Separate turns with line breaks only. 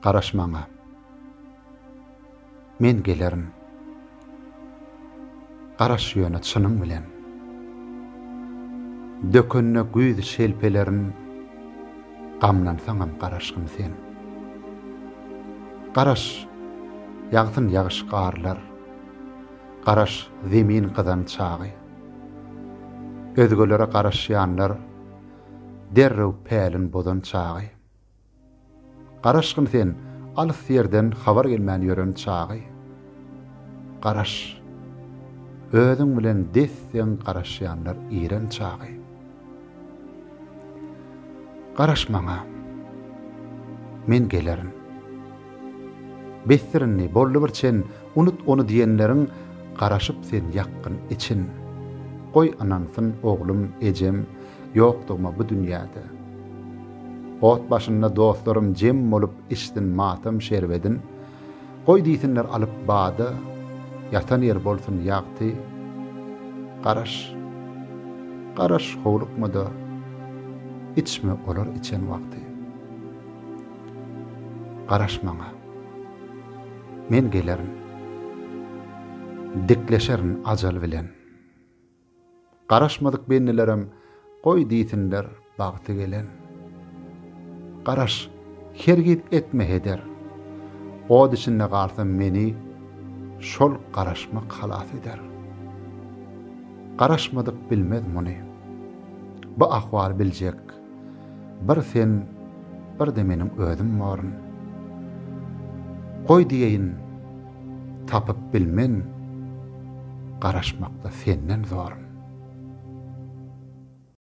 Garaş maňa. Men gelerin. Garaş ýöne çynyň bilen. Dökünde güýz şelpelerin gamlansaňam garaşgyn sen. Garaş, ýagsyn ýagyş-garlar. Garaş, zemin gyzan çagy. Özgelere garaşýanlar derrew pälin bozan çagy. Garaşgyn sen alys ýerden habar gelmän ýören çagy. Garaş, özüň bilen des-deň garaşýanlar iren çagy. Garaş maňa. Men gelerin. Besdir indi, boldy bir çen, unut ony diýenleriň, garaşyp sen ýakgyn için. Goý ynansyn, oglum, ejem, ýokdugyma bu dünýäde. Ot başynda dostlarym jem bolup içsin matam şerbedin. Goý diýsinler alyp bada, Ýatan ýer bolsun ýagty. Garaş, garaş howlukma-da, Içme olar içen wagty. Garaş maňa. Men gelerin. Dikleşerin ajal bilen. Garaşmadyk bendilerem goý diýsinler bagty gelen. Garaş, hergiz etme heder. Ot içinde galsam meni şol garaşmak halas eder. Garaşmadyk bilmez muny. Bu ahwaly biljek Bir sen, bir-de meniň özüm boryn. Goý diýeýin, tapyp bilmen, garaşmakda senden zoryn.